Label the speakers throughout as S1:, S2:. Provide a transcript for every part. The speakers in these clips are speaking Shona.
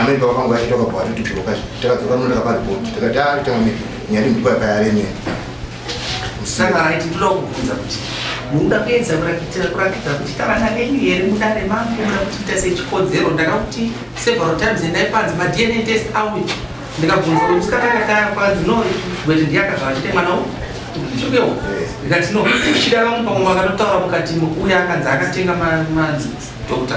S1: amene pakangu achitoka bwatu tibloka takadzoka muno takaparipoti takati ari tamami nyari ndipo yakayaremera
S2: saka right ndoda kubvunza kuti munoda kuedza kurakitira kurakidza kuti tavana venyu here muda remambo muda kutiita sechikodzero ndaka kuti several times endai panzi madna test awe ndikabvunza kuti musikana akataya kwanzi no bwete ndiyakazvachite mwana u ndichukewo ndikati no chida vamwe pamwe vakatotaura mukati uya akanzi akatenga madokta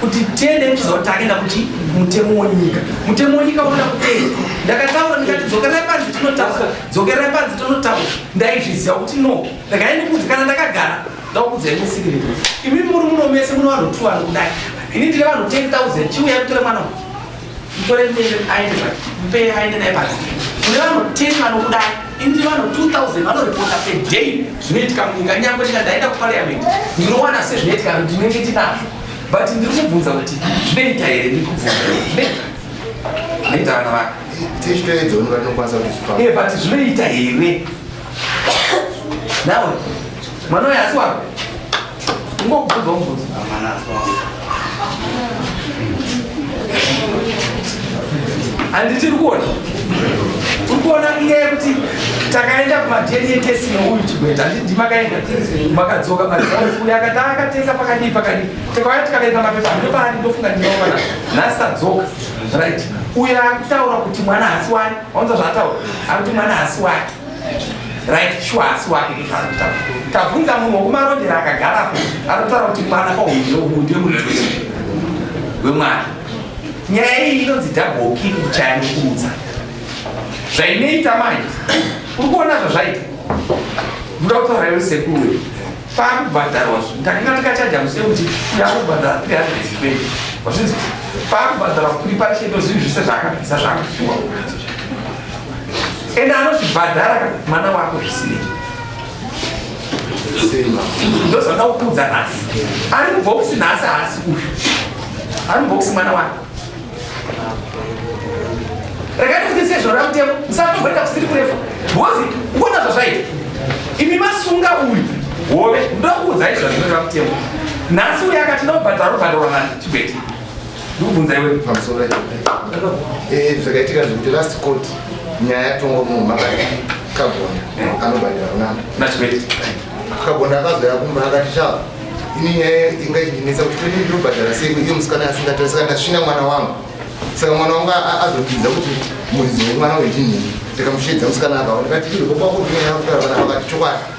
S2: kuti tiende tichiziva kuti taenda kuti mutemo wenyika mutemo wenyika unoda kupedza ndakataura ndikati dzokerai panzi tinotaura dzokerai panzi tinotaura ndaizviziva kuti no ndakaendikudzi kana ndakagara ndakukudzai musikirei imi muri muno mese muno vanhu two vanhu kudai ini ndiri vanhu 10 000 chiuya kutora mwana uyu mutore mbere aende pa mupei aende naye pasi kune vanhu 10 vanokuda indi vanhu 2000 vanoripota a day zvinoitika munyika nyangwe ndika ndaenda kuparliament ndinowana sezvinoitika kuti ndinenge tinazvo but ndiri kubvunza kuti zvinoita here ndiri kubvunza zvinoita zvinoita vana vaka eh, but zvinoita here nawe mwana uyo asi wako handiti uri kuona uri kuona iye yekuti
S3: takaenda kumadna test neuyu chigweta handiti makaenda makadzoka maauya akati akatenga pakadii pakadii tikauya tikaverenga mapepa hande paani ndofunga ndinoona nhasi tadzoka right uyo akutaura kuti mwana hasi wani waunza zvaataura akuti mwana hasi wake right shuwa asi wake ndozvaanotaura tabvunza munhu wokumarondera akagarapo anotaura kuti mwana kwauyo uyu ndiye muridzi wemwana nyaya iyi inonzi double kick kuchaya nokuudza zvainoita manje uri kuona zvazvaita ndoda kutaura iwe sekuru pakubhadharwa ndakanga ndikachaja muse kuti yakubhadhara three hundred twenty wazvinzi pakubhadharwa kuri pachendo zvinhu zvese zvaakabvisa zvaakashuwa ende anozvibhadhara mwana wako zvisinei ndozvada kukuudza nhasi ari mubhokisi nhasi haasi uyu ari mubhokisi mwana wako rekati kuti sezvo ramutemo musatomboenda kusiri kurefu bhozi kuona zvazvaita imi masunga uyu hove ndokuudzai zvazvinoita mutemo nhasi uyu akati ndobhadhara obhadharwa nani chibete ndokubvunza
S1: iwe pamusoro eh, zvakaitika zvekuti last court nyaya yatongwa munhu makati kagonda anobhadhira kunana nachikwete
S3: kagonda
S1: akazoya kumba akati chava ini nyaya inga ichindinetsa kuti todi ndinobhadhara sei iyo musikana asingatae saka ndasvina mwana wangu saka mwana wangu azopinza kuti muridzi wemwana wechinhii ndikamusheedza musikana akaonekati iwe kwakuvina yakutaravana vakati chokwadi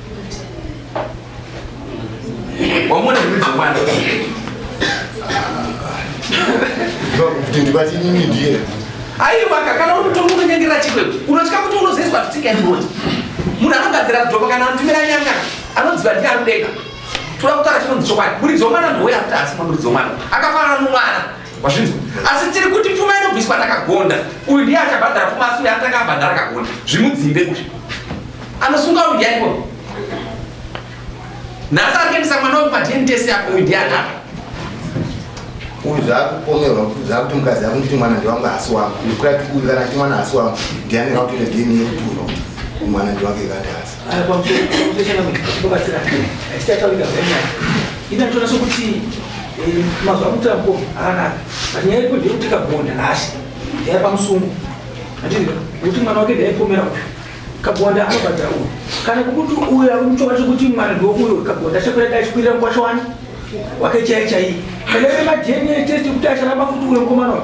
S3: wamona
S1: zvimidzi mwana aiwaka
S3: kana unotonga unonyangira chikweko unotya kuti unozoiswa zvisingaimoti munhu anogadzira kudhoma kana anotumira nyanga anodziva ndi anodeka toda kutaura chinonzi chokwadi muridzi womwana ndowoya kuti asi mwamuridzi womwana akafanana nomwana Wazvinzwa? Asi tiri kuti pfuma inobviswa takagonda. Uyu ndiye achabhadhara pfuma asi uyu anotanga abhadhara akagonda. Zvimudzimbe kuti. Anosunga uyu ndiye aiko. Nhasi ari kuendesa mwana weku paDNA test yako uyu ndiye anapa.
S1: Uyu zvakupomerwa kuti zvakuti mukadzi yako nditi mwana ndiwangu asi wangu. Ndikuti uyu kana kuti mwana asi wangu ndiye anenge akutoita DNA yekuti uyu mwana ndiwake kana kuti asi.
S3: kabonda anobhadhara uyu kana kukuti uyu akuchova chekuti mwana ndouyo kabonda achakwira dai chikwirira mukwasha wani wake chaiye chaiye kana iri madna test kuti acharamba futi uyo mukomana uyu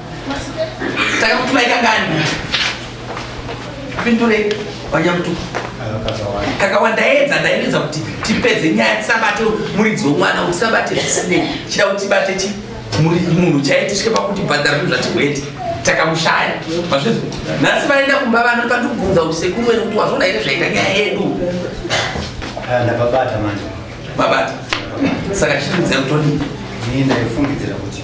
S2: Saka kuti vaikangani? Pindure vanyamutu. Kakawanda edza ndairidza kuti tipedze nyaya tisabate muridzi wemwana kuti tisabate zvisinei. Chida kuti tibate chi munhu chaiye tisvike pakuti bhadhara zvinhu zvatigwete. Takamushaya. Mazvizvo. Nhasi vaenda kumba vano pandikubvunza kuti sekuru wenu kuti wazvona here zvaita nyaya yedu. Ah,
S4: ndababata manje. Babata.
S2: Saka chiri kuziva kuti ndini ndaifungidzira
S4: kuti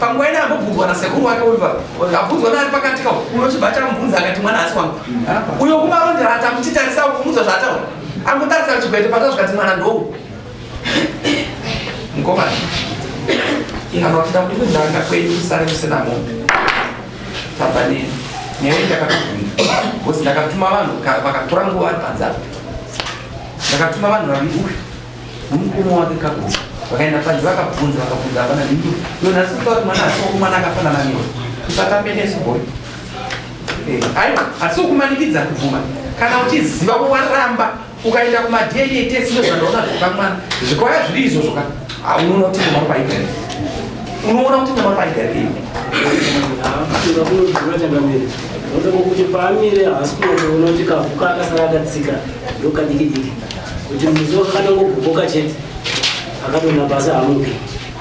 S3: panguva ina ambobvunzwa nasekuru wake uyu abvunzwa naari pakati ka unochibva chamubvunza akati mwana asi wangu uyo kumarondera atamuchitarisa kumudzwa zvaataura angotarisa chigwete pata zvikati mwana ndou mukomana kana kuti takuti kunanga kwenyu kusare kusina mombe Tava ne nyaya iyi ndakatobvunza because ndakatuma vanhu vakatora nguva ari panze apo ndakatuma vanhu vaviri uyu nomukoma wake kakuti vakaenda panze vakabvunza vakabvunza hapana nini iyo nhasi kutaura kuti mwana asiwo kumwana akafanana newe usatambe nesu boy eh, aiwa asi ukumanikidza kubvuma kana uchiziva waramba ukaenda kumadna test ndozvandaona zvekamwana zvikwaya zviri izvozvo ka unoona kuti nyama
S5: paigari unoona kuti nyama paigari kuti paamire haasi kunotoona kuti kavuka akasara akatsika ndokadikidiki kuti muzokanangogoboka chete akatona basa hamupi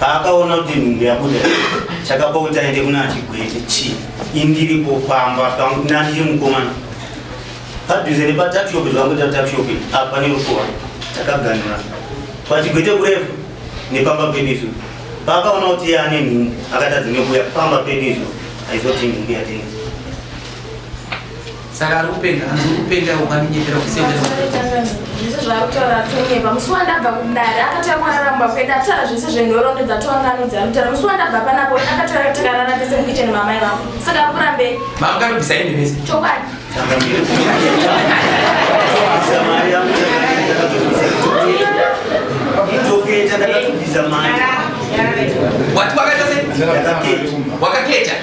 S6: paakaona kuti nhumbu yabuda chakapa kuti aende kuna achigwete chi indiri kufamba pangu nani chiri mukomana padhuze nepatakishopi zvakangoita takishopi apa nerukuwa takaganura pachigwete kurefu nepamba penisu paakaona kuti iye ane nhumbu akatadza nekuuya pamba penisu aizoti nhumbu yatengesa
S3: Saka ari kupenga, hanzi uri kupenga iwe ukaminyepera kusendera. Zvese
S7: zvaakutaura atonyepa. Musi wandabva kudare akatanga kuraramba kwedu atara zvese zvenhorondo dzatanga anodzi anotara. Musi wandabva panapo akatanga takarara tese mukicheni mamai vangu. Saka ari kurambei? Mama kanobvisa hembe mese.
S3: Chokwadi.
S7: Ndoketa ndakatobvisa
S3: mari. Wati wakata sei? Ndakaketa. Wakaketa.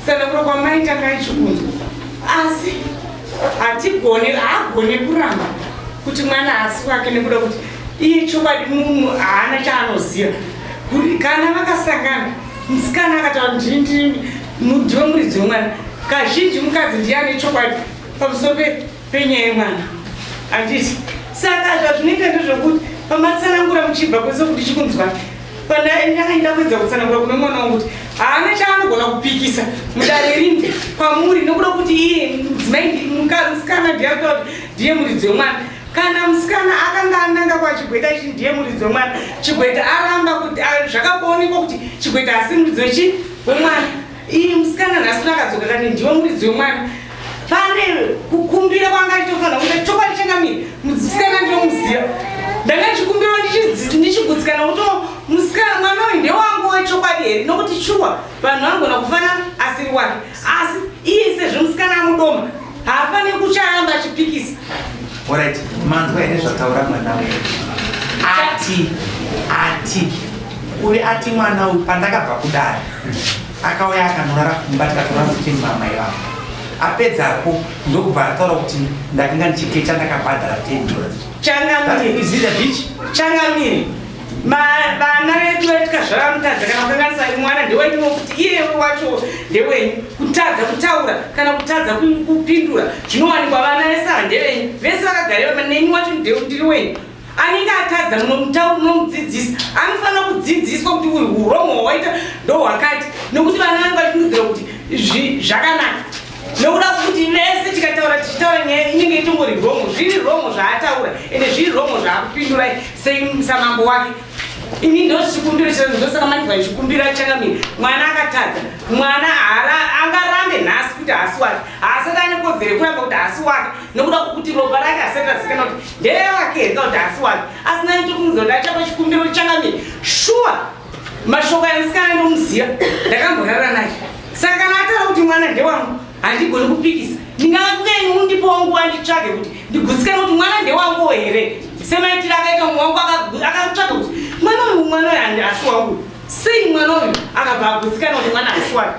S8: Kusadakura kwamai Takai chikunzwa asi hatigone haagone kuramba kuti mwana haasi wake nekuda kuti iye
S9: chokwadi munhu haana chaanoziva kana vakasangana musikana akataura kuti ndini ndiwe muridzi wemwana kazhinji mukadzi ndiye ane chokwadi pamusoro penyaya yemwana handiti saka zvazvinoita ndezvekuti pamatsanangura muchibva kwese kuti chikunzwai pandainyakaita kuedza kutsanangura kune mwana wangu kuti haana chaanogona kupikisa mudare rinde kwamuri nokuda kuti iye mudzimai musikana ndiyakuta kuti ndiye muridzi wemwana kana musikana akanga ananga kwachigweta ichi ndiye muridzi wemwana chigweta aramba kuti zvakaonekwa kuti chigweta asi muridzi wechi wemwana Iyi musikana nhasi rakadzoka kani ndiwe muridzi wemwana pane kukumbira kwanga achitofanira kuita chokwadi changamira musikana ndinomuziva ndanga ndichikumbira ndichigutsikana kuto musikana mwana uyu ndewangu wechokwadi here nokuti shuwa vanhu vanogona kufana asiri wake asi iye sezvo musikana amudoma Hapane kuchaamba chipikisa. Alright,
S3: manzwa here zvataura mwana wedu? Ati ati uyu ati mwana uyu pandakabva kudare akauya akanorara kumba tikatora kuti mama ivavo apedzapo ndokubva ataura kuti ndakanga ndichikecha ndakabhadhara ten dollars. Changamire. That is it, a bitch.
S9: Changamire. vana vedu vaitika zvavanotadza kana kukanganisa mwana ndewenyuwo kuti iye wacho ndewenyu kutadza kutaura kana kutadza kupindura zvinowanikwa vana vese ava ndevenyu vese vakagareva neni wacho ndiri wenyu anenge atadza munomutaura munomudzidzisa anofanira kudzidziswa kuti uyu uromo hwawaita ndohwakati nokuti vana vanenge vachindudzira kuti zvakanaka nokuda kuti mese tikataura tichitaura nyaya inenge itongori romo zviri romo zvaataura ende zviri romo zvaakupindura sesamambo wake ini ndozvikumbiro chirano ndosaka manje vachikumbira changamira mwana akatadza mwana angarambe nhasi kuti haasi wake haasati ane kodzero yekuramba kuti haasi wake nokuda kwokuti ropa rake hasati rasikana kuti ndere wake here ka kuti haasi wake asi nani tokumuza kuti achapa chikumbiro changamira shuwa Mashoko aya musikana ndomuziva ndakamborara naye saka kana ataura kuti mwana ndewangu handigoni kupikisa ndingava kuyeni undipo wangu wanditsvage kuti ndigutsikane kuti mwana ndewangu here semaitiro akaita mumwe wangu akatsvaga kuti mwana uyu mwana uyu asi wangu sei mwana uyu akabva agutsikana kuti mwana asi wake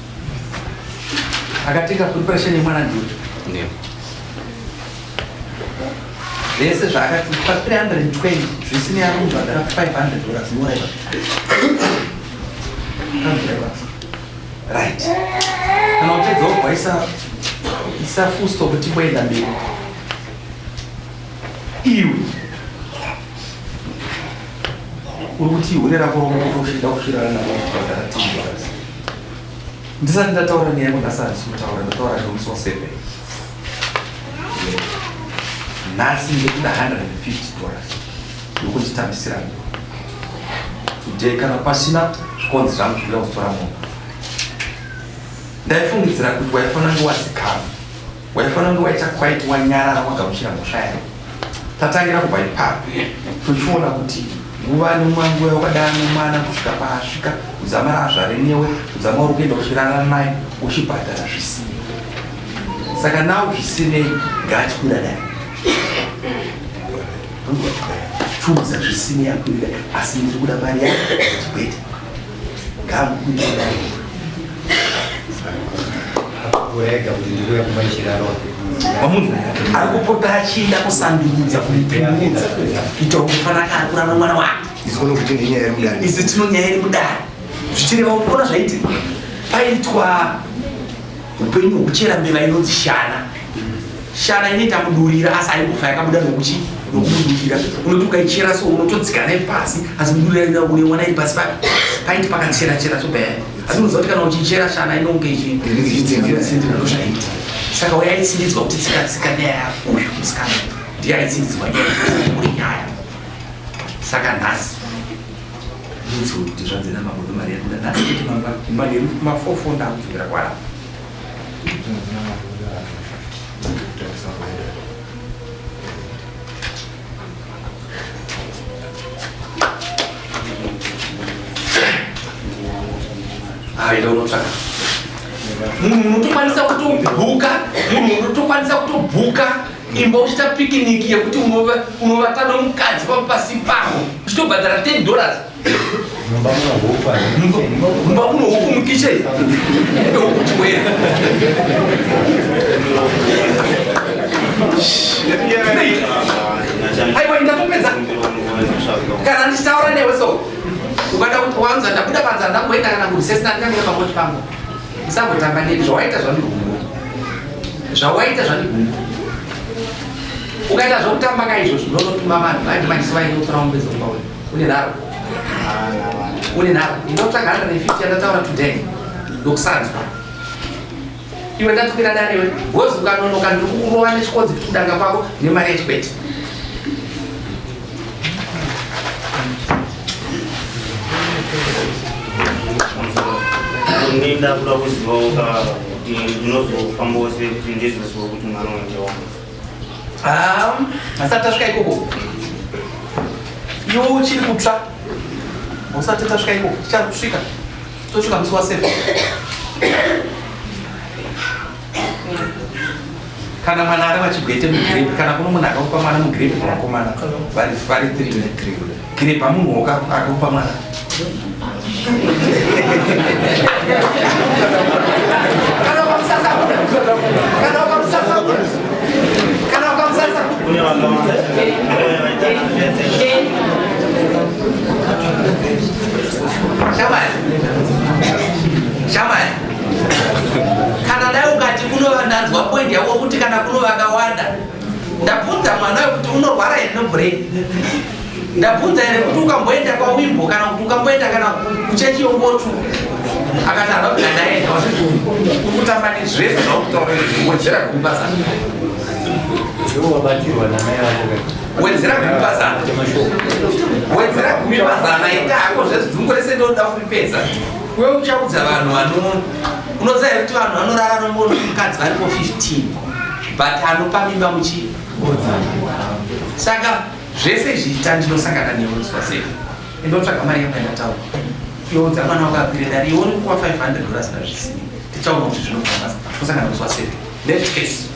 S3: akatenga preparation yemwana ndiyo zvese zvaakatipa 320 zvisinei ari kubhadhara 500 dollars moraiva right kana upedza wobva isa isa full stop timboenda mberi iwe uri kuti ihure rako romokotoshida kusvirana navo kubhadhara 10 dollars ndisati ndataura nyaya yangu nhasi handisi kutaura ndataura nyaya musi wa seven nhasi ndikuda hundred and fifty dollars ndokunditambisira ngo today kana pasina zvikonzi zvangu zvinoda kutora momba ndaifungidzira kuti waifanira nguwa dzigama Waifanira kunge waita quite wanyarara wagamuchira mhosva yayo. Tatangira kubva ipapo tochiona kuti nguva nomwangu wakadana nomwana kusvika paasvika kudzamara azvare newe kudzama uri kuenda kuchirara naye uchibhadhara zvisinei. Saka nawo zvisinei ngaachikwira dai chunza zvisinei akwirira asi ndiri kuda mari yake chibwete
S4: kurega kuti ndikuya kumba ichiraro wamunhu
S3: ari kupota achienda kusandudza kuipindudza kuita kufanaka ari kurara mwana wake izikono kuti ndinyaya iri mudare izi tino nyaya iri mudare zvichireva kupona zvaitika paitwa Upenyu hwekuchera mbeva inonzi shana. Shana inoita kudurira asi haimbofa yakabuda nokuchi nokudurira. Unoti ukaichera so unotodzika naye pasi asi kudurira inoda kunewana iri pasi papi paiti pakachera chera so baya. Asi unoziva kuti kana uchichera shana inonge ichitsindira ndozvaita. Saka
S2: uya aitsindidzwa kuti tsika tsika nyaya yako uyu musikana ndiye aitsindidzwa nyaya uri nyaya. Saka nhasi Ndoudzwa kuti zvanzi namambo ndomari yabuda nhasi kuti mamba imba neri kuti mafofo ndakudzokera kwara. Aida unotsvaka munhu unotokwanisa kutobhuka munhu unotokwanisa kutobhuka imba uchita pikiniki yekuti unovata nomukadzi pavo pasi pavo uchitobhadhara 10 dollars mumba muno huku mukichen ebe huku chiwera aiwa ndatopedza kana ndichitaura newe so ukada kuti wanza ndabuda panza ndangoenda kana kurisesi ndandikangea pakoti pangu Usangotamba neni zvawaita zvandigumbu. Zvawaita zvandigumbu. Ukaita zvokutamba ka izvozvo ndonotuma vanhu vaiti manje sivai ndotora mombe dzokuba uyu. Une nharo. Une nharo. Ndinotsvaga 150 yandataura today. Ndokusanzwa. Iwe ndatumira dare iwe. Wozi ukanonoka ndiri kukurova nechikonzi kudanga kwako nemari yechikwete.
S6: Ini ndakuda kuzivawo ka kuti ndinozofambawo sei kuti ndizoziva kuti mwana wange wangu. Ah,
S2: asati tasvika ikoko. Iwe uchiri kutsva. Usati tasvika ikoko, tichari kusvika. Tosvika musi wa 7. kana mwana ari vachigwete mugrepe kana kuno munhu akaupa mwana mugrepe mwanakomana vari vari grepe amunhu woka akaupa mwana Shamai. Shamai. kana dai ukati kunova ndanzwa point yako kuti kana kuno vakawanda ndabvunza mwana wekuti unorwara here nobrain ndabvunza here kuti ukamboenda kwawimbo kana kuti ukamboenda kana kuchechi yokotu akati hava kuda ndaenda ukutamba nezvese zvaukutaura wedzera kumbasa wedzera kumipazana wedzera kumipazana ita hako zvezvizungu rese ndoda kuripedza Wewe uchaudza vanhu vano unoziva here kuti vanhu vanorara nombono mukadzi varipo 15 but anopa mimba muchii saka zvese zviita ndinosangana newe unzwa sei indotsvaga mari yangu yandataura youdza mwana wako apire dare iwe uri kuwa 500 dollars na zvisini tichaona kuti zvinofambasa tosangana unzwa sei next case